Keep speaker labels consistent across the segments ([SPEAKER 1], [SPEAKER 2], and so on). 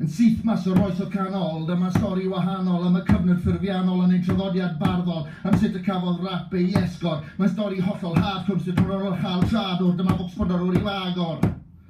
[SPEAKER 1] Yn syth mas o'r oes o canol, dyma stori wahanol am y cyfnod ffurfiannol yn ein traddodiad barddol, am sut y cafodd rap ei esgor. Mae'n stori hollol hardcore, sut rhan o'r chael siadwr, dyma focsbondor o'r i lagor.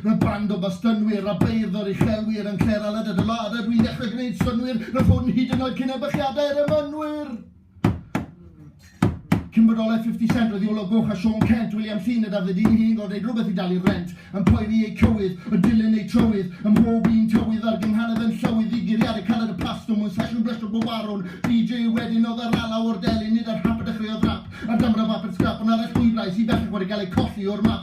[SPEAKER 1] Rwy'n band o Bostynwyr a beirddor uchelwyr yn Clare Aled a dy ladd a dwi'n dechrau gwneud synnwyr na phwn hyd yn oed cyn ebychiadau yr emynwyr! Cyn bodolaeth Fifty Cent roedd Iolo Goch a Siôn Cent, William Thynne a Dafydd U'u hi'n gorfod neud rhywbeth i dalu'r rent, yn poeri eu cywydd, yn dilyn eu trywydd, ym mhob un tywydd a'r gynghanedd yn llywydd i guriadur caled y plastwm mewn sesiwn blestrog bob warwn! DJ wedyn oedd yr alaw o'r delyn, nid yr hap a dechreuodd rap, ar damra bapur sgrap ond ar eich llwybrau sydd bellach wedi cael eu colli o'r map.